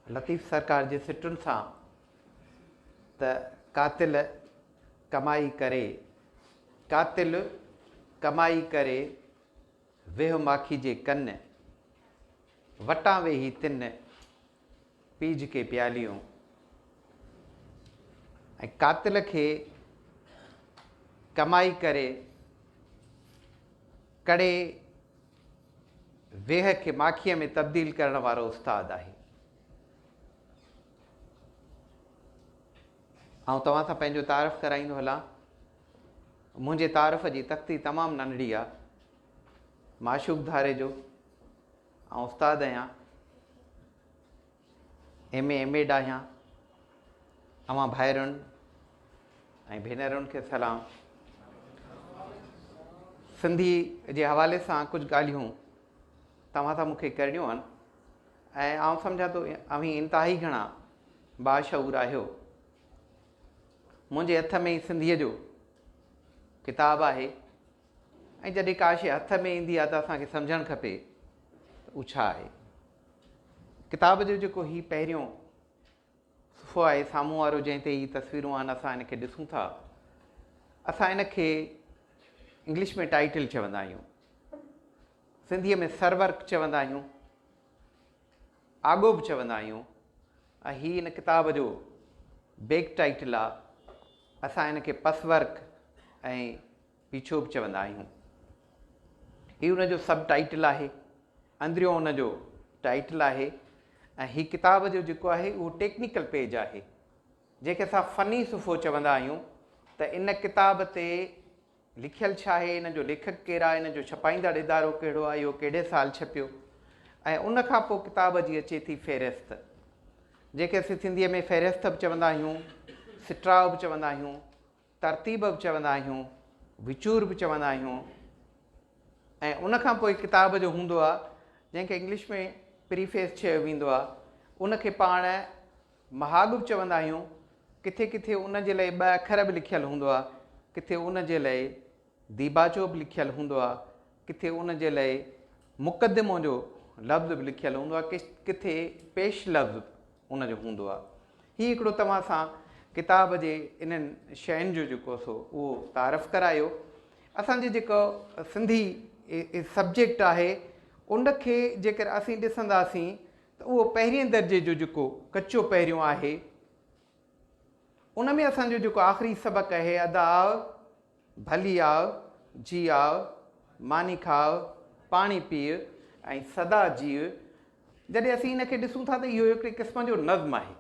لطيف سرڪار جي سٽن سان ته قاتل ڪمائي ڪري قاتل ڪمائي ڪري ويهه ماکي جي ڪن وٽان ويهي تن پيج کي پياليون ۽ قاتل کي ڪمائي ڪري ڪڙي ويهه کي ماکيء ۾ تبديل ڪرڻ وارو استاد آهي. آئون توهان سان پنهنجو تعارف ڪرائيندو هلان. منهنجي تعارف جي تختي تمام ننڍڙي آ. معشوق ڌاري جو آئون استاد آهيان. ايم اي ايم ايڊ آهيان اوهان ڀائرن ۽ ڀينرن کي سلام سنڌي جي حوالي سان ڪجهه ڳالهيون توهان سان مونکي ڪرڻيون آهن ۽ آئون سمجھان ٿو اوهين انتهائي گھڻا باشعور آهيو منهنجي هٿ ۾ سنڌيء جو ڪتاب آهي ۽ جڏهن ڪاشي هٿ ۾ ايندي آهي ته اسانکي سمجھڻ کپي ته اهو ڇا آهي ڪتاب جو جيڪو هي پهريون صفحو آهي سامهون وارو جنهن تي هي تصويرون آهن اسان ان کي ڏسون ٿا اسان ان کي انگلش ۾ ٽائيٽل چوندا آهيون سنڌيء ۾ سرورق چوندا آهيون آڳو به چوندا آهيون ۽ هي ان ڪتاب جو بيڪ ٽائيٽل آهي اسان ان کي پس ورق ۽ پيڇو به چوندا آهيون. هي ان جو سب ٽائيٽل آهي. اندريون ان جو ٽائيٽل آهي ۽ هي ڪتاب جو جيڪو آهي اهو ٽيڪنيڪل پيج آهي. جنهن کي اسان فني صفحو چوندا آهيون ته ان ڪتاب تي لکيل ڇا آهي، ان جو ليکڪ ڪير آهي، ان جو ڇپائيندڙ ادارو ڪهڙو آهي، اهو ڪهڙي سال ڇپيو ۽ ان کان پوء ڪتاب جي اچي ٿي فهرست. جنهن کي اسين سنڌيء ۾ فهرست به چوندا آهيون، سٽراء به چوندا آهيون. ترتيب به چوندا آهيون، وچور به چوندا آهيون ۽ ان کان پوء ڪتاب جو هوندو آهي جنهن کي انگلش ۾ پريفيس چيو ويندو آهي ان کي پاڻ مهاڳ به چوندا آهيون، ڪٿي ڪٿي ان جي لاء ٻه اکر به لکيل هوندو آهي، ڪٿي ان جي لاء ديباچو به لکيل هوندو آهي، ڪٿي ان جي لاء مقدمو جو لفظ به لکيل هوندو آهي، ڪٿي پيش لفظ ان جو هوندو آهي. هي هڪڙو توهان سان ڪتاب جي انهن شين جو جيڪو سو اهو تعارف ڪرايو. اسان جي جيڪو سنڌي سبجيڪٽ آهي ان کي جيڪر اسين ڏسنداسين ته اهو پهرين درجي جو جيڪو ڪچو پهريون آهي ان ۾ اسان جو جيڪو آخري سبق آهي ادا ڀلي آء، جي آء، ماني کاء، پاڻي پيء ۽ سدا جيء، جڏهن اسين ان کي ڏسون ٿا ته اهو هڪڙي قسم جو نظم آهي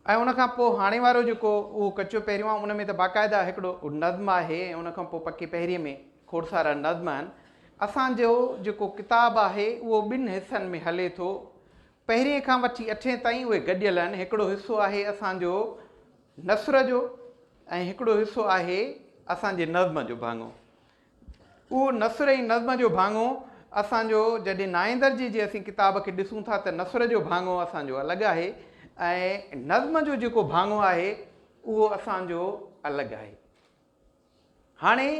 ۽ ان کان پوء هاڻي وارو جيڪو اهو ڪچو پهريون آهي ان ۾ ته باقاعده هڪڙو نظم آهي ۽ ان کان پوء پڪي پهرينء ۾ کوڙ سارا نظم آهن. اسان جو جيڪو ڪتاب آهي اهو ٻن حصن ۾ هلي ٿو. پهرين کان وٺي اٺين تائين اهي گڏيل آهن، هڪڙو حصو آهي اسان جو نثر جو ۽ هڪڙو حصو آهي اسان جي نظم جو ڀاڱو. اهو نثر ۽ نظم جو ڀاڱو اسان جو جڏهن نائين درجي جي اسين ڪتاب کي ڏسون ٿا ته نثر جو ڀاڱو اسان جو الڳ آهي ۽ نظم جو جيڪو ڀاڱو آهي اهو اسان جو الڳ آهي. هاڻي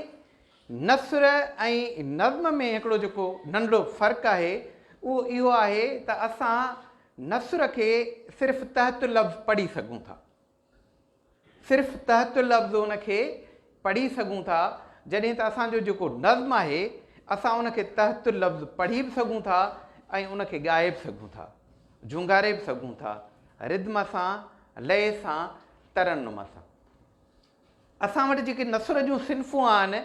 نثر ۽ نظم ۾ هڪڙو جيڪو ننڍڙو فرق آهي اهو اهو آهي ته اسان نثر کي صرف تحت لفظ پڙهي سگهون ٿا. صرف تحت لفظ ان کي پڙهي سگهون ٿا جڏهن ته اسان جو جيڪو نظم آهي اسان ان کي تحت لفظ پڙهي به سگهون ٿا ۽ ان کي ڳائي به سگهون ٿا، جهونگاري به سگهون ٿا، ردم سان، لئه سان، ترنم سان. اسان وٽ جيڪي نثر جون صنفون آهن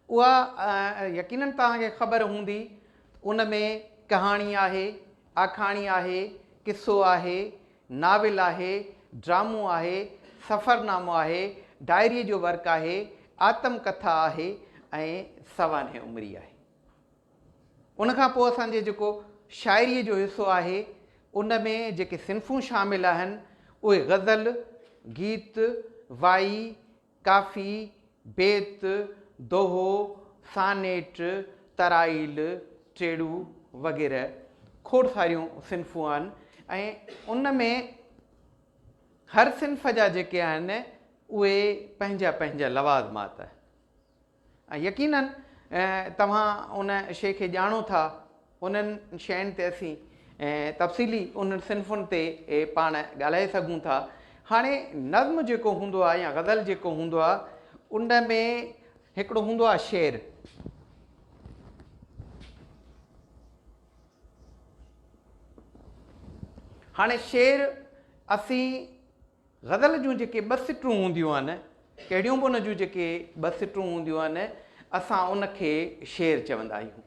اها يقينن توهان کي خبر هوندي ته ان ۾ ڪهاڻي آهي، آکاڻي آهي، قصو آهي، ناول آهي، ڊرامو آهي، سفرنامو آهي، ڊائريء جو ورق آهي، آتم ڪٿا آهي ۽ سوانح عمري آهي. ان کان پوء اسان جي جيڪو شاعريء جو حصو آهي، ان ۾ جيڪي صنفون شامل آهن، اهي غزل، گيت، وائي، ڪافي، بيت، دوهو، سانيٽ، ترائيل، ٽيڙو وغيره کوڙ ساريون صنفون آهن ۽ ان ۾ هر صنف جا جيڪي آهن، اهي پنهنجا پنهنجا لوازمات ۽ يقينن توهان ان شيء کي ڄاڻو ٿا، انهن شين تي اسين تفصيلي انهن صنفن تي پاڻ ڳالهائي سگهون ٿا. هاڻي نظم جيڪو هوندو آهي يا غزل جيڪو هوندو آهي ان ۾ هڪڙو هوندو آهي شعر. هاڻي شعر اسين. غزل جون جيڪي ٻه سٽون هونديون آهن، ڪهڙيون به ان جون جيڪي ٻه سٽون هونديون آهن، اسان ان کي شعر چوندا آهيون.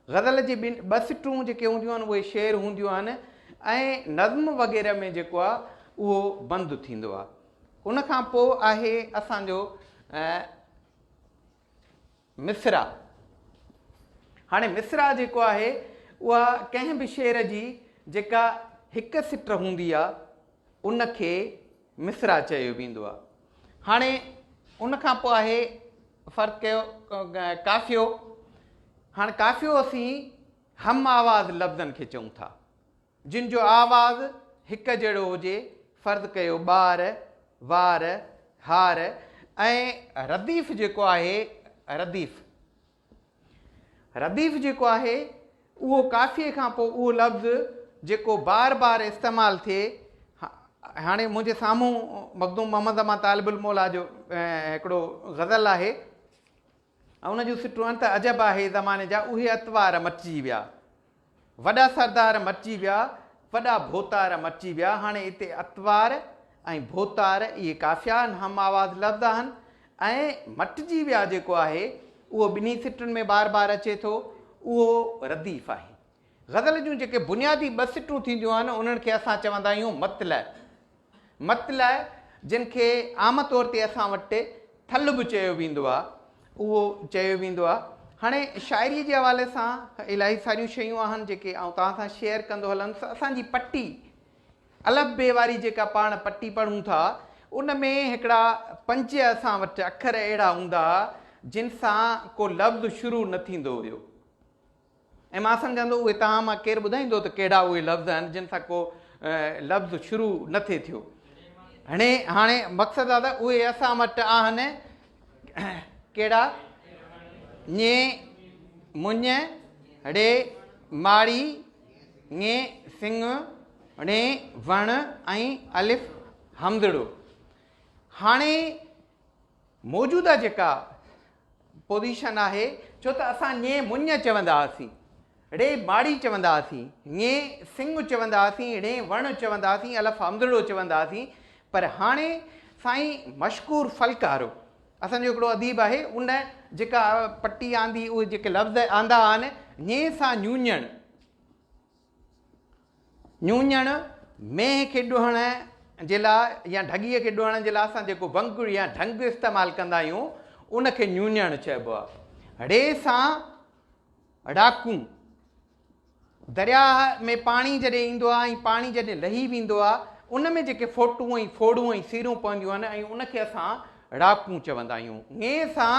غزل جي ٻن ٻه سٽون جيڪي هونديون آهن اهي شعر هونديون آهن ۽ نظم وغيره ۾ جيڪو آهي اهو بند ٿيندو آهي. ان کان پوء آهي اسان جو مصرع، هاڻي مصرع جيڪو آهي اها ڪنهن به شعر جي جيڪا هڪ سٽر هوندي آهي ان کي مصرع چيو ويندو آهي. هاڻي ان کان پوء آهي فرض ڪيو قافيو، هاڻ قافيو اسين هم آواز لفظن کي چئون ٿا. جن جو آواز هڪ جهڙو هجي، فرض ڪيو ٻار، وار، هار ۽ رديف جيڪو آهي، رديف، رديف جيڪو آهي اهو ڪافيء کان پوء اهو لفظ جيڪو بار بار استعمال ٿئي، هاڻي منهنجي سامهون مخدوم محمد زمان طالب الموليٰ جو هڪڙو غزل آهي، ۽ ان جون سٽون انت عجب آهي زماني جا اهي اتوار مٽجي ويا وڏا سردار مٽجي ويا وڏا ڀوتار مٽجي ويا هاڻي اتي اتوار ۽ ڀوتار اهي قافيا آهن هم آواز لفظ آهن ۽ مٽجي ويا جيڪو آهي اهو ٻنهي سٽن ۾ بار بار اچي ٿو اهو رديف آهي غزل جون جيڪي بنيادي ٻه سٽون ٿينديون آهن انهن کي اسان چوندا آهيون مطلع مطلع، جنھن کي عام طور تي اسان وٽ ٿلھ به چيو ويندو آ، اھو چيو ويندو آ. ھاڻي شاعريء جي حوالي سان الاھي ساريون شيون آھن جيڪي آئون توھان سان شيئر ڪندو ھلندس. اسان جي پٽي، الف بي واري جيڪا پاڻ پٽي پڙھون ٿا، ان ۾ ھڪڙا پنج اسان وٽ اکر اھڙا ھوندا ھئا، جن سان ڪو لفظ شروع نه ٿيندو ھيو. ۽ مان سمجهان ٿو اهي توهان مان ڪير ٻڌائيندو ته ڪهڙا اهي لفظ آهن جن سان ڪو لفظ شروع نه ٿئي ٿيو هني هاڻي مقصد آهي ته اهي اسان وٽ آهن ڪهڙا ڃي مڃ ڙي ماڙي ڱي سنگ ڙي وڻ ۽ الف همزڙو هاڻي موجوده جيڪا پوزيشن آهي ڇو ته اسان ڃي مڃ چوندا هئاسين ڙي ماڙي چوندا هئاسين ڃي سڱ چوندا هئاسين ڙي وڻ چوندا هئاسين الف همزڙو چوندا هئاسين پر هاڻي سائين مشڪور ڦلڪارو اسان جو هڪڙو اديب آهي ان جيڪا پٽي آندي اهي جيڪي لفظ آندا آهن ڃي سان ڃوڃڻ ڃوڃڻ، مينهن کي ڏهڻ جي لاء يا ڍڳيء کي ڏهڻ جي لاء اسان جيڪو ونگڙ يا ڍنگ استعمال ڪندا آهيون، ان کي ڃوڃڻ چئبو آهي. ڙي سان ڙاڪون، درياهه ۾ پاڻي جڏهن ايندو آهي ۽ پاڻي جڏهن لهي ويندو آهي، ان ۾ جيڪي ڦوٽون ۽ ڦوڙون ۽ سيرون پونديون آهن، ان کي اسان ڙاڪون چوندا آهيون. ڱي سان.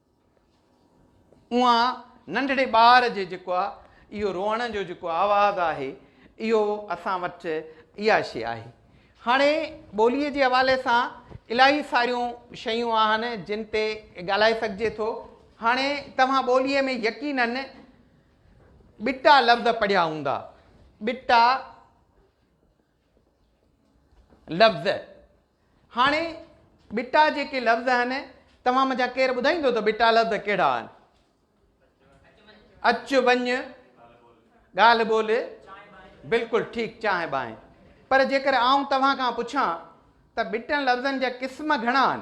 اوهان ننڍڙي ٻار جي جيڪو آهي اهو روئڻ جو جيڪو آواز آهي اهو اسان وٽ اها شي آهي هاڻي ٻوليء جي حوالي سان الاهي ساريون شيون آهن جن تي ڳالهائي سگهجي ٿو هاڻي توهان ٻوليء ۾ يقينن ٻٽا لفظ پڙهيا هوندا ٻٽا لفظ، هاڻي ٻٽا جيڪي لفظ آهن توهان مان جا ڪير ٻڌائيندو ته ٻٽا لفظ ڪهڙا آهن؟ اچ وڃ، ڳالهه ٻولهه، بلڪل ٺيڪ چانهه بانهه. پر جيڪر آئون توهان کان پڇان ته ٻٽن لفظن جا قسم گهڻا آهن؟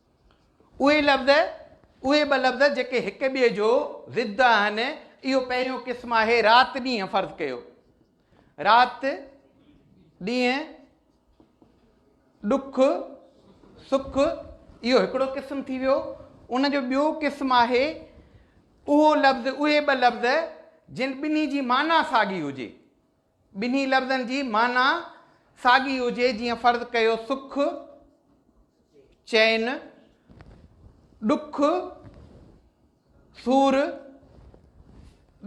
اهي لفظ، اهي ٻه لفظ جيڪي هڪ ٻئي جو ضد آهن، اهو پهريون قسم آهي رات ڏينهن فرض ڪيو. رات ڏينهن ڏک سک اهو هڪڙو قسم ٿي ويو ان جو ٻيو قسم آهي اهو لفظ اهي ٻه لفظ جن ٻنهي جي معنيٰ ساڳي هجي ٻنهي لفظن جي معنيٰ ساڳي هجي جيئن فرض ڪيو سک، چين، ڏک، سور،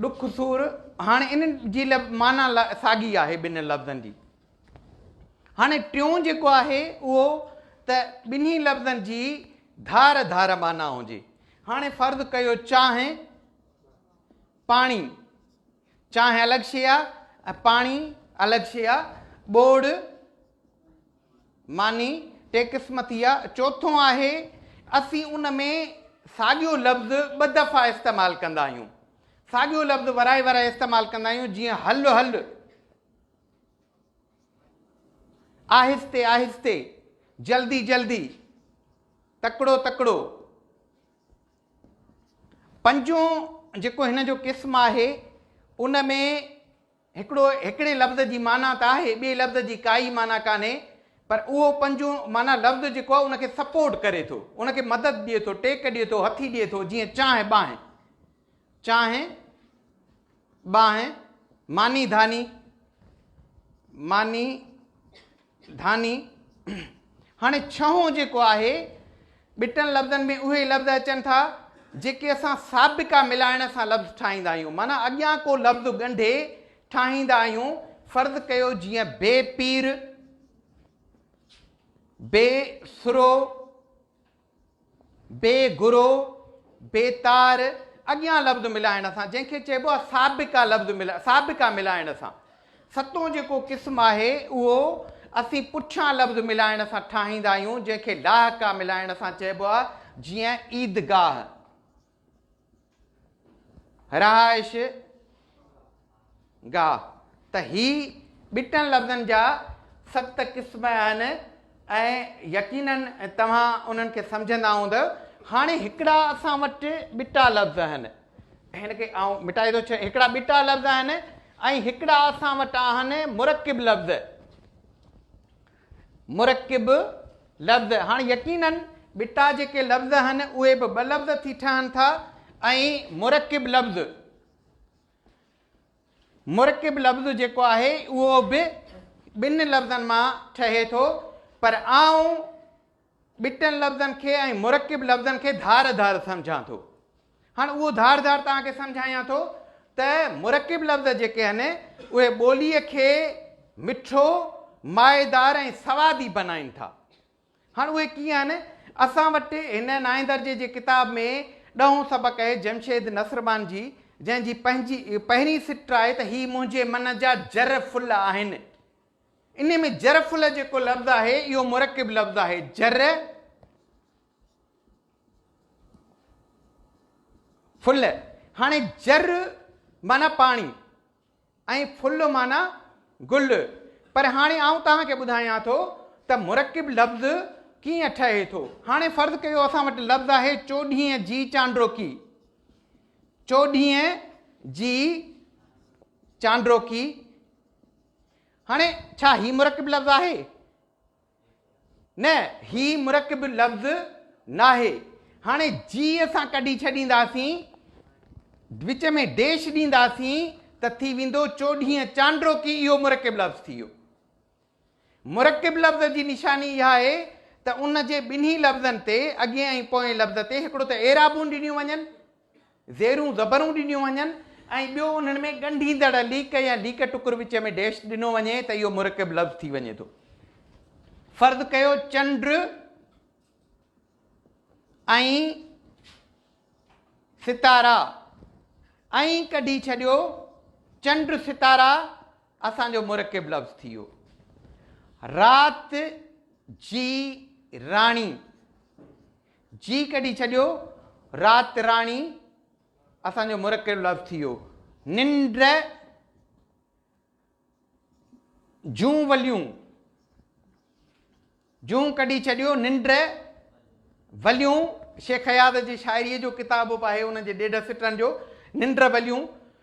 ڏک سور هاڻي ان جي معنيٰ ساڳي آهي ٻنهي لفظن جي هاڻي ٽيون جيڪو آهي اهو ته ٻنهي لفظن جي ڌار ڌار معنيٰ هجي هاڻي فرض ڪيو چانهه پاڻي چانهه الڳ شيء آ ۽ پاڻي الڳ شيء آ. ٻوڙ، ماني، ٽي قسم ٿي آ. چوٿون آهي، اسين ان ۾ ساڳيو لفظ ٻه دفعا استعمال ڪندا آهيون. ساڳيو لفظ ورائي ورائي استعمال ڪندا آهيون، جيئن هل هل، آهستي آهستي، جلدي جلدي، تڪڙو تڪڙو. پنجون جيڪو هن جو قسم آهي ان ۾ هڪڙو هڪڙي لفظ جي معنيٰ ته آهي ٻئي لفظ جي ڪائي معنيٰ ڪانهي پر اهو پنجون معنيٰ لفظ جيڪو آهي ان کي سپورٽ ڪري ٿو ان کي مدد ڏئي ٿو ٽيڪ ڏئي ٿو هٿي ڏئي ٿو جيئن چانهه ٻانهه چانهه، ٻانهه، ماني ڌاني، ماني ڌاني، هاڻي ڇهون جيڪو آهي، ٻٽن لفظن ۾ اهي ئي لفظ اچن ٿا، جيڪي اسان سابقا ملائڻ سان لفظ ٺاهيندا آهيون، معنيٰ اڳيان ڪو لفظ ڳنڍي ٺاهيندا آهيون، فرض ڪيو جيئن بي پير، بي سرو، بي گرو، بي تار، اڳيان لفظ ملائڻ سان، جنهن کي چئبو آهي سابقا لفظ ملائڻ، سابقا ملائڻ سان. ستون جيڪو قسم آهي، اهو اسين پٺيان لفظ ملائڻ سان ٺاهيندا آهيون، جنهن کي لاحقا ملائڻ سان چئبو آهي، جيئن عيدگاهه. رهائش گاهه ته هي ٻٽن لفظن جا ست قسم آهن ۽ يقينن توهان انهن کي سمجهندا هوندؤ هاڻي هڪڙا اسان وٽ ٻٽا لفظ آهن هن کي آئون مٽائي ٿو ڇڏ هڪڙا ٻٽا لفظ آهن ۽ هڪڙا اسان وٽ آهن مرڪب لفظ مرڪب لفظ، هاڻ يقيناً ٻٽا جيڪي لفظ آهن اهي به ٻه لفظ ٿي ٺهن ٿا ۽ مرڪب لفظ، مرڪب لفظ جيڪو آهي اهو به ٻن لفظن مان ٺهي ٿو پر آئون ٻٽن لفظن کي ۽ مرڪب لفظن کي ڌار ڌار سمجهان ٿو. هاڻ اهو ڌار ڌار توهان کي سمجهايان ٿو ته مرڪب لفظ جيڪي آهن اهي ٻوليء کي مٺو، مائيدار ۽ سوادي بنائين ٿا. هاڻ اهي ڪيئن آهن؟ اسان وٽ هن نائين درجي جي ڪتاب ۾ ڏهون سبق آهي جمشيد نصربان جي جنهن جي پنهنجي پهرين سٽ آهي ته هي منهنجي من جا جر ڦل آهن. انهي ۾ جرفل جيڪو لفظ آهي اهو مرڪب لفظ آهي جر فل هاڻي جر معنی پاڻي ۽ فل معنی گل پر هاڻي آئون توهان کي ٻڌايان ٿو ته مرڪب لفظ ڪيئن ٺهي ٿو هاڻي فرض ڪيو اسان وٽ لفظ آهي چوڏهين جي چانڊروڪي چوڏهين جي چانڊروڪي هاڻي ڇا هي مرڪب لفظ آهي؟ نه هي مرڪب لفظ ناهي هاڻي جي اسان ڪڍي ڇڏينداسين وچ ۾ ڊيش ڏينداسين ته ٿي ويندو چوڏهين چانڊرو ڪي اهو مرڪب لفظ ٿي ويو مرڪب لفظ جي نشاني اها آهي ته ان جي ٻنهي لفظن تي اڳين ۽ پوئين لفظ تي هڪڙو ته اعرابون ڏنيون وڃن زيرون زبرون ڏنيون وڃن ۽ ٻيو انهن ۾ ڳنڍيندڙ ليڪ يا ليڪ ٽڪر وچ ۾ ڊيش ڏنو وڃي ته اهو مرڪب لفظ ٿي وڃي ٿو. فرض ڪيو چنڊ ۽ ستارا ائين ڪڍي ڇڏيو چنڊ ستارا اسان جو مرڪب لفظ ٿي ويو رات جي راڻي جي ڪڍي ڇڏيو رات راڻي اسان جو مرڪب لفظ ٿي ويو ننڊ جون وليون جون ڪڍي ڇڏيو ننڊ وليون شيخ اياز جي شاعري جو ڪتاب به آهي ان جي ڏيڍ سٽن جو ننڊ وليون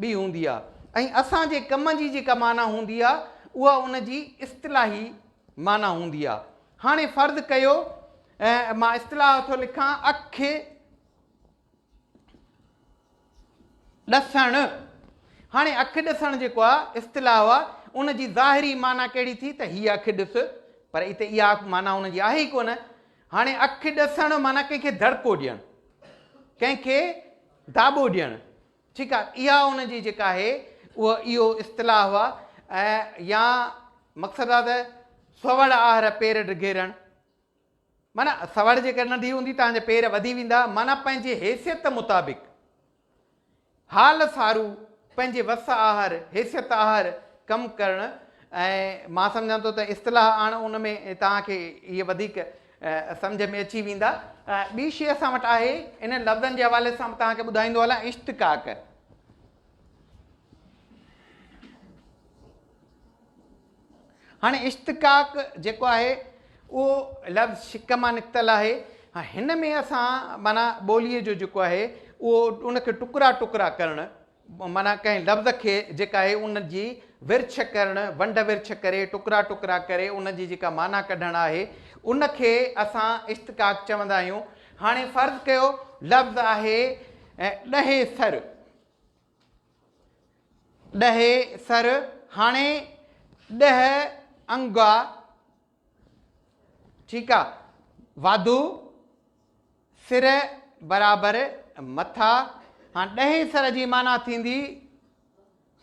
به هوندي آهي ۽ اسان جي ڪم جي جيڪا معنيٰ هوندي آهي اها ان جي اصطلاحي معنيٰ هوندي آهي. هاڻي فرض ڪيو مان اصطلاح ٿو لکان اک ڏسڻ. هاڻي اک ڏسڻ جيڪو آهي اصطلاح آهي ان جي ظاهري معنيٰ ڪهڙي ٿي ته هيء اک ڏس پر اتي اها معنيٰ ان جي آهي ئي ڪونه. هاڻي اک ڏسڻ معنيٰ ڪنهن کي دڙڪو ڏيڻ، ڪنهن کي داٻو ڏيڻ. ٺيڪ آ اها ان جي جيڪا آهي اهو اهو اصطلاح هئا ۽ يا مقصد آ ته سوڙ آهر پير ڊگهيرڻ معنی سوڙ جيڪر ننڍي هوندي تان جا پير وڌي ويندا معنی پنهنجي حيثيت مطابق حال سارو پنهنجي وس آهر حيثيت آهر ڪم ڪرڻ ۽ مان سمجهان ٿو ته اصطلاح آڻ ان ۾ تان کي هي وڌيڪ سمجهه ۾ اچي ويندا. ٻي شيء اسان وٽ آهي، انهن لفظن جي حوالي سان به توهان کي ٻڌائيندو هلان، اشتقاق. هاڻي اشتقاق جيڪو آهي اهو لفظ شق مان نڪتل آهي. هن ۾ اسان معنيٰ ٻوليء جو جيڪو آهي اهو ان کي ٽڪرا ٽڪرا ڪرڻ، معنيٰ ڪنهن لفظ کي جيڪا آهي ان جي ورڇ ڪرڻ، ونڊ ورڇ ڪري، ٽڪرا ٽڪرا ڪري ان جي جيڪا معنيٰ ڪڍڻ آهي ان کي اسان اشتقاق چوندا آهيون. هاڻي فرض ڪيو لفظ آهي ڏهي سر، ڏهي سر، هاڻي ڏهه انگا ٺيڪ آ واڌو سر برابر مٿا هاڻ ڏهين سر جي معنيٰ ٿيندي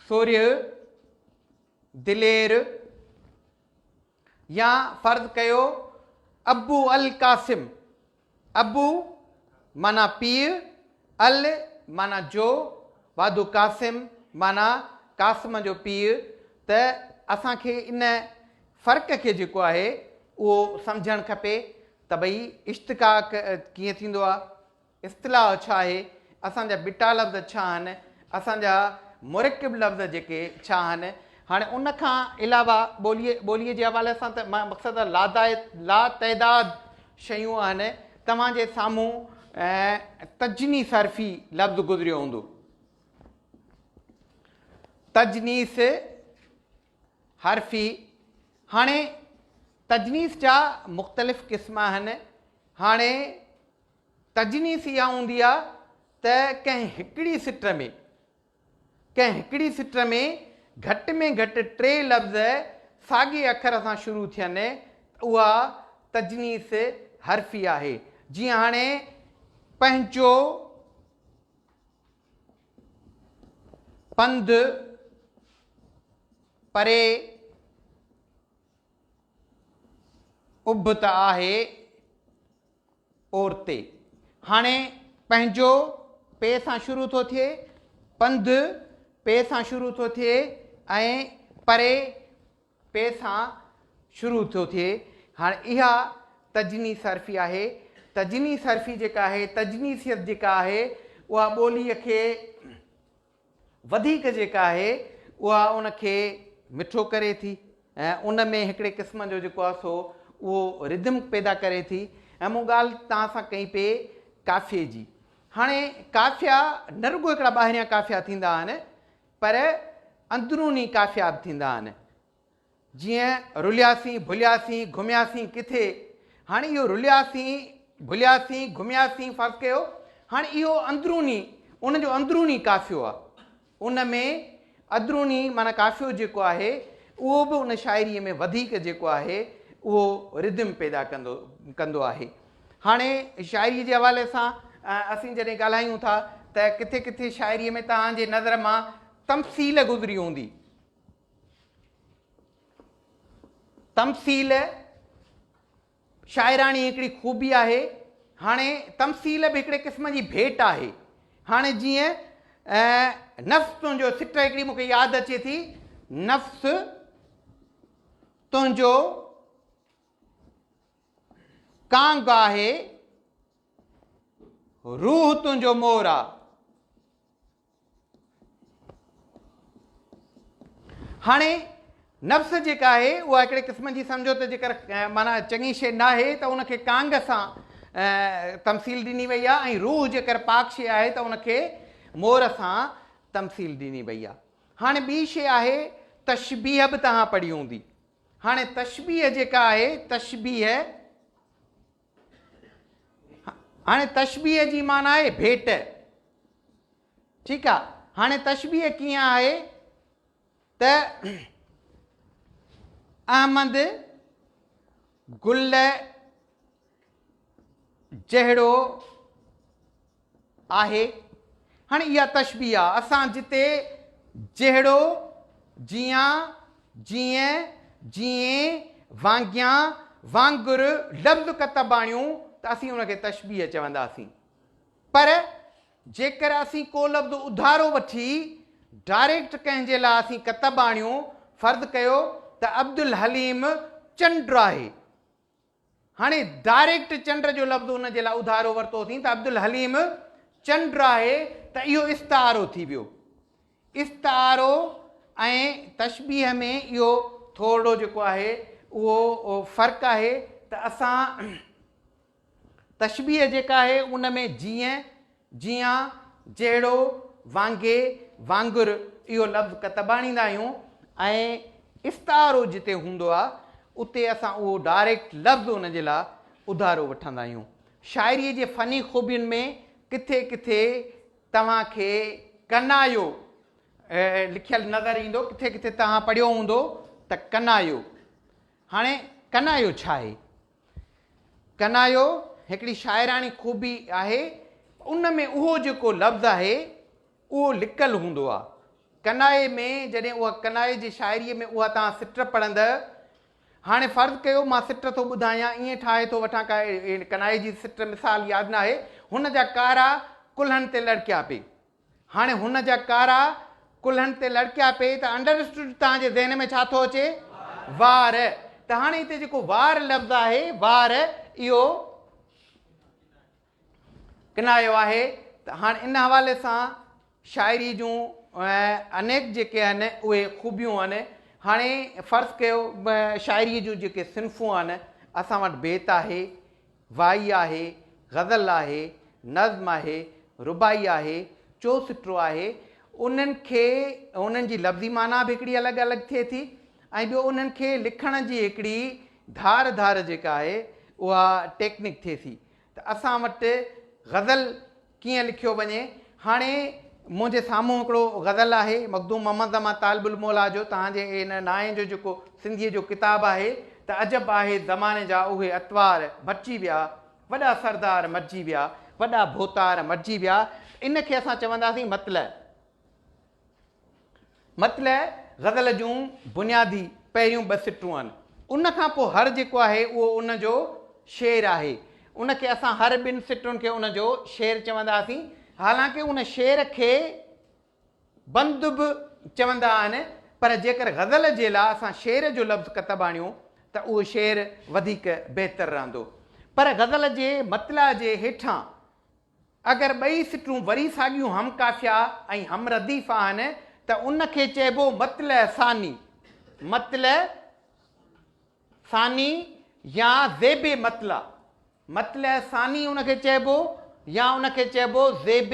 سورهيه دلير يا فرض ڪيو ابو القاسم ابو، معنيٰ پيء، ال، معنيٰ جو، وادو قاسم، معنيٰ قاسم جو پيء، ته اسان کي ان فرق کي جيڪو آهي اهو سمجهڻ کپي ته ڀئي اشتقاق ڪيئن ٿيندو آهي، اصطلاح ڇا آهي، اسان جا ٻٽا لفظ ڇا آهن، اسان جا مرڪب لفظ جيڪي ڇا آهن، هاڻي ان کان علاوه ٻوليء ٻوليء جي حوالي سان ته مقصد لا تعداد شيون آهن، توهان جي سامهون تجني صرفي لفظ گذريو هوندو. تجنيس حرفي، هاڻي تجنيس جا مختلف قسم آهن، هاڻي تجنيس اها هوندي آهي ته ڪنهن هڪڙي سٽ ۾ ڪنهن هڪڙي سٽر ۾ گهٽ ۾ گهٽ ٽي لفظ ساڳئي اکر سان شروع ٿين ته اها تجنيس حرفي آهي. جيئن هاڻي پنهنجو، پنڌ، پري، اڀ ته آهي، عورتي هاڻي پنهنجو پ سان شروع ٿو ٿئي پنڌ پ سان شروع ٿو ٿئي ۽ پري پ سان شروع ٿو ٿئي هاڻي اها تجني صرفي آهي تجني صرفي جيڪا آهي تجنيسيت جيڪا آهي اها ٻولي کي وڌيڪ جيڪا آهي اها ان کي مٺو ڪري ٿي ۽ ان ۾ هڪڙي قسم جو جيڪو آهي سو اهو Rhythm پيدا ڪري ٿي ۽ مون ڳالهه توهان سان ڪئي پئي قافيي جي هاڻي قافيا نه رڳو هڪڙا ٻاهريان قافيا ٿيندا آهن پر اندروني قافيا به ٿيندا آهن جيئن رلياسين ڀلياسين گهمياسين ڪٿي هاڻي اهو رلياسين ڀلياسين گهمياسين فرض ڪيو هاڻي اهو اندروني ان جو اندروني قافيو آهي ان ۾ ادروني معنی قافيو جيڪو آهي اهو به ان شاعري ۾ وڌيڪ جيڪو آهي اهو ردم پيدا ڪندو ڪندو آهي هاڻي شاعري جي حوالي سان اسين جڏهن ڳالهايون ٿا ته ڪٿي ڪٿي شاعري ۾ توهان جي نظر مان تمثيل گذري هوندي تمثيل شاعراڻي هڪڙي خوبي آهي هاڻي تمثيل به هڪڙي قسم جي ڀيٽ آهي هاڻي جيئن نفس تنهنجو سٽ هڪڙي مونکي ياد اچي ٿي نفس تنهنجو کانگ آهي روح تنهنجو مور آ هاڻي نفس جيڪا آهي اها هڪڙي قسم جي سمجهو ته جيڪر معنيٰ چڱي شي نه آهي ته ان کي ڪانگ سان تمثيل ڏني وئي آهي ۽ روح جيڪر پاڪ شي آهي ته ان کي مور سان تمثيل ڏني وئي آهي هاڻي ٻي شي آهي تشبيهه به توهان پڙهي هوندي هاڻي تشبيهه جيڪا آهي تشبيهه هاڻي تشبيه جي معنيٰ آهي ڀيٽ ٺيڪ آهي هاڻي تشبيه ڪيئن آهي ته احمد گل جهڙو آهي. هاڻي اها تشبيهه آهي اسان جتي جهڙو، جيان، جيئن، جيئين، وانگيان، وانگر لفظ ڪتب آڻيون ته اسين ان کي تشبيهه چونداسين. پر جيڪر اسين ڪو لفظ اڌارو وٺي ڊائريڪٽ ڪنهن جي لاء اسين ڪتب آڻيون، فرض ڪيو ته عبدالحليم چنڊ آهي هاڻي ڊائريڪٽ چنڊ جو لفظ ان جي لاء اڌارو ورتو اٿين ته عبدالحليم چنڊ آهي ته اهو استعارو ٿي ويو استعارو ۽ تشبيح ۾ اهو ٿورڙو جيڪو آهي اهو فرق آهي ته اسان تشبيح جيڪا آهي ان ۾ جيئن جيان، جهڙو، وانگي، وانگر اهو لفظ ڪتب آڻيندا آهيون ۽ استعارو جتي هوندو آهي اتي اسان اهو ڊائريڪٽ لفظ ان جي لاء اڌارو وٺندا آهيون. شاعريء جي فني خوبين ۾ ڪٿي ڪٿي توهان کي ڪنايو لکيل نظر ايندو، ڪٿي ڪٿي توهان پڙهيو هوندو ته ڪنايو. هاڻي ڪنايو ڇا آهي؟ ڪنايو هڪڙي شاعراڻي خوبي آهي ان ۾ اهو جيڪو لفظ آهي اهو لڪل هوندو آهي ڪنايي ۾ جڏهن اها ڪنايي جي شاعري ۾ اها توهان سٽر پڙهندء هاڻي فرض ڪيو مان سٽر ٿو ٻڌايان ائين ٺاهي ٿو وٺان ڪا ڪنايي جي سٽر مثال ياد ناهي هن جا ڪارا ڪلهن تي لڙڪيا پي هاڻي هن جا ڪارا ڪلهن تي لڙڪيا پئي ته انڊرسٽوڊ توهان جي ذهن ۾ ڇا ٿو اچي؟ وار. ته هاڻي هتي جيڪو وار لفظ آهي وار اهو ڪنايو آهي ته هاڻي ان حوالي سان شاعري جون انيڪ جيڪي آهن اهي خوبيون آهن هاڻي فرض ڪيو شاعري جون جيڪي صنفون آهن اسان وٽ بيت آهي وائي آهي، غزل آهي، نظم آهي، رباعي آهي، چوسٽرو آهي، انهن کي انهن جي لفظي معنيٰ به هڪڙي الڳ الڳ ٿئي ٿي ۽ ٻيو انهن کي لکڻ جي هڪڙي ڌار ڌار جيڪا آهي اها ٽيڪنڪ ٿئي ٿي ته اسان وٽ غزل ڪيئن لکيو وڃي. هاڻي منهنجي سامهون هڪڙو غزل آهي مخدوم محمد زمان طالب الموليٰ جو توهان جي هن نانء جو جيڪو سنڌيء جو ڪتاب آهي ته عجب آهي زماني جا اهي اطوار مٽجي ويا وڏا سردار مٽجي ويا وڏا ڀوتار مٽجي ويا ان کي اسان چونداسين مطلع. مطلع غزل جون بنيادي پهريون ٻه سٽون آهن. ان کان پوء هر جيڪو آهي اهو ان جو شعر آهي. ان کي اسان هر ٻن سٽن کي ان جو شعر چونداسين. حالانڪه ان شعر کي بند به چوندا آهن پر جيڪر غزل جي لا اسان شعر جو لفظ ڪتب آڻيون ته اهو شعر وڌيڪ بهتر رهندو. پر غزل جي مطلع جي هيٺان اگر ٻئي سٽون وري ساڳيون هم قافيه ۽ هم رديف آهن ته ان کي چئبو مطلع ثاني، مطلع ثاني يا زيب مطلع، مطلع ثاني ان کي چئبو يا ان کي چئبو زيب.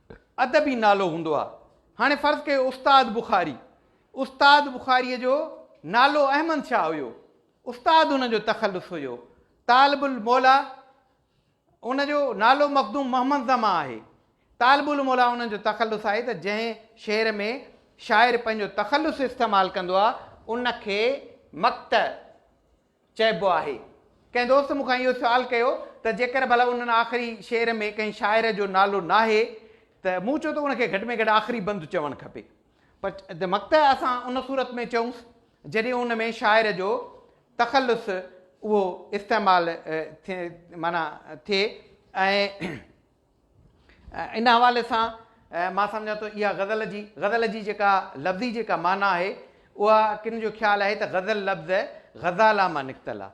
ادبي نالو هوندو آ هاڻي فرض ڪيو استاد بخاري استاد بخاري جو نالو احمد شاهه هيو استاد ان جو تخلص هيو طالب الموليٰ ان جو نالو مخدوم محمد زمان آهي طالب الموليٰ ان جو تخلص آهي ته جنهن شعر ۾ شاعر پنهنجو تخلص استعمال ڪندو آ ان کي مقطع چئبو آهي. ڪنهن دوست مون کان اهو سوال ڪيو ته جيڪر ڀلا ان آخري شعر ۾ ڪنهن شاعر جو نالو ناهي ته مون چيو ته ان کي گهٽ ۾ گهٽ آخري بند چوڻ کپي پر مقطع اسان ان صورت ۾ چئونس جڏهن ان ۾ شاعر جو تخلص اهو استعمال ٿئي معنيٰ ٿئي ۽ ان حوالي سان مان سمجهان ٿو اها غزل جي غزل جي جيڪا لفظي جيڪا معنيٰ آهي اها ڪن جو خيال آهي ته غزل لفظ غزالا مان نڪتل آهي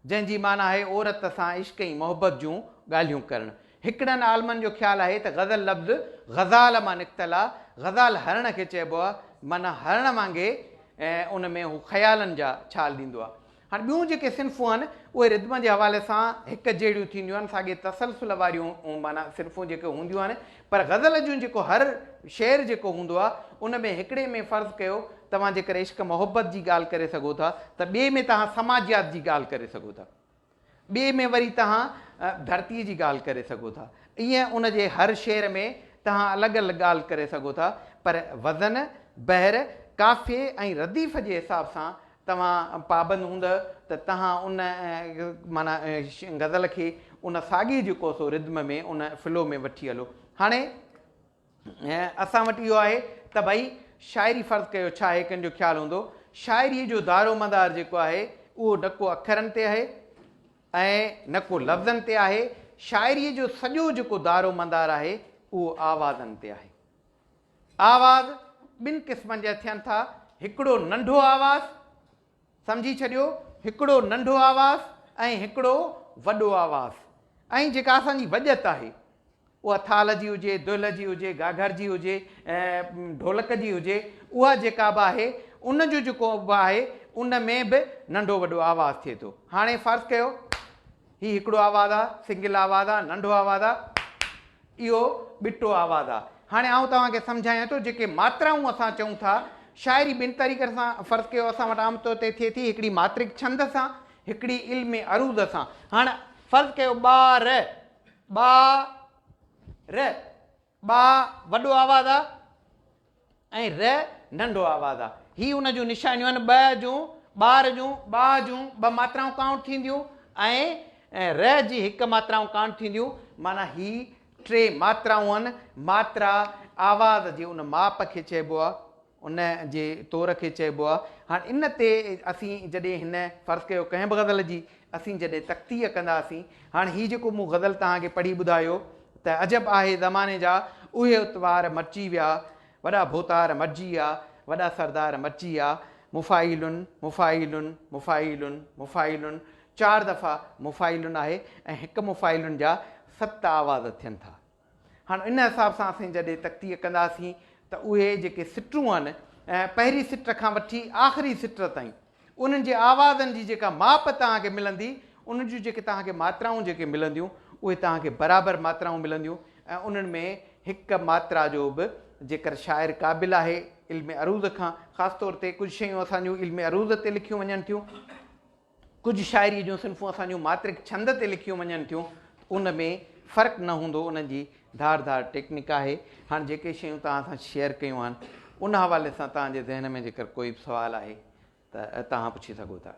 جنهن جي معنيٰ آهي عورت سان عشق ۽ محبت جون ڳالهيون ڪرڻ هڪڙن عالمن جو خيال آهي ته غزل لفظ غزال مان نڪتل آهي غزال هرڻ کي چئبو آهي معنيٰ هرڻ وانگي ان ۾ هو خيالن جا ڇال ڏيندو آهي هاڻ ٻيون جيڪي صنفون آهن اهي ردم جي حوالي سان هڪ جهڙيون ٿينديون آهن ساڳي تسلسل واريون معنيٰ صنفون جيڪي هونديون آهن پر غزل جون جيڪو هر شعر جيڪو هوندو آهي ان ۾ هڪڙي ۾ فرض ڪيو توهان جيڪر عشق محبت جي ڳالهه ڪري سگهو ٿا ته ٻئي ۾ توهان سماجيات جي ڳالهه ڪري سگهو ٿا ٻئي ۾ وري توهان ڌرتيء جي ڳالهه ڪري سگهو ٿا. ايئن ان جي هر شعر ۾ توهان الڳ الڳ ڳالهه ڪري سگهو ٿا، پر وزن، بحر، قافيي ۽ رديف جي حساب سان توهان پابند هوندء ته توهان ان معنيٰ غزل کي ان ساڳي جيڪو سو Rhythm ۾ ان Flow ۾ وٺي هلو. هاڻي. اسان وٽ اهو آهي ته ڀئي شاعري فرض ڪيو ڇا هي ڪن جو خيال هوندو شاعري جو دارو مدار جيڪو آهي اهو نه ڪو اکرن تي آهي ۽ نه ڪو لفظن تي آهي شاعري جو سڄو جيڪو دارو مدار آهي اهو آوازن تي آهي آواز ٻن قسمن جا ٿين ٿا هڪڙو ننڍو آواز سمجهي ڇڏيو هڪڙو ننڍو آواز ۽ هڪڙو وڏو آواز ۽ جيڪا اسان جي وڄت آهي اها ٿالهه جي هجي دهل جي هجي گاگهر جي هجي ڍولڪ جي هجي اها جيڪا به آهي ان جو جيڪو به آهي ان ۾ به ننڍو وڏو آواز ٿئي ٿو هاڻي فرض ڪيو هي هڪڙو آواز آ سنگل آواز آ ننڍو آواز آ اهو ٻٽو آواز آ هاڻي آئون توهان کي سمجهايان ٿو جيڪي ماترائون اسان چئون ٿا شاعري ٻن طريقن سان فرض ڪيو اسان وٽ عام طور تي ٿئي ٿي هڪڙي ماترڪ ڇند سان هڪڙي علم عروض سان هاڻ فرض ڪيو ٻار ٻا ر ٻا وڏو آواز آ ۽ ر ننڍو آواز آ. هي ان جون نشانيون آهن ٻه جون، ٻار جون، ٻاء جون ٻه ماترائون ڪائونٽ ٿينديون ۽ ر جي هڪ ماترائون ڪائونٽ ٿينديون معنيٰ هي ٽي ماترائون آهن ماترا آواز جي ان ماپ کي چئبو آ ان جي طور کي چئبو آ. هاڻ ان تي اسين جڏهن هن فرض ڪيو ڪنهن به غزل جي اسين جڏهن تقطيع ڪنداسين. هاڻ هي جيڪو مون غزل توهان کي پڙهي ٻڌايو ته عجب آهي زماني جا اهي اتوار مٽجي ويا وڏا ڀوتار مٽجي ويا وڏا سردار مٽجي ويا مفاعيلن مفاعيلن مفاعيلن مفاعيلن چار دفعا مفاعيلن آهي ۽ هڪ مفاعيلن جا ست آواز ٿين ٿا. هاڻ ان حساب سان اسين جڏهن تقطيع ڪنداسين ته اهي جيڪي سٽون آهن پهرين سٽ کان وٺي آخري سٽ تائين انهن جي آوازن جي جيڪا ماپ توهان کي ملندي انهن جون جيڪي توهان کي ماترائون جيڪي ملنديون اهي توهان کي برابر ماترائون ملنديون ۽ انهن ۾ هڪ ماترا جو به جيڪر شاعر قابل آهي علم عروض کان خاص طور تي ڪجهه شيون اسان جون علم عروض تي لکيون وڃن ٿيون ڪجهه شاعريء جون صنفون اسان جون ماترڪ ڇند تي لکيون وڃن ٿيون ته ان ۾ فرق نه هوندو انهن جي ڌار ڌار ٽيڪنڪ آهي. هاڻ جيڪي شيون توهان سان شيئر ڪيون آهن ان حوالي سان توهان جي ذهن ۾ جيڪر ڪوئي به سوال آهي ته توهان پڇي سگهو ٿا.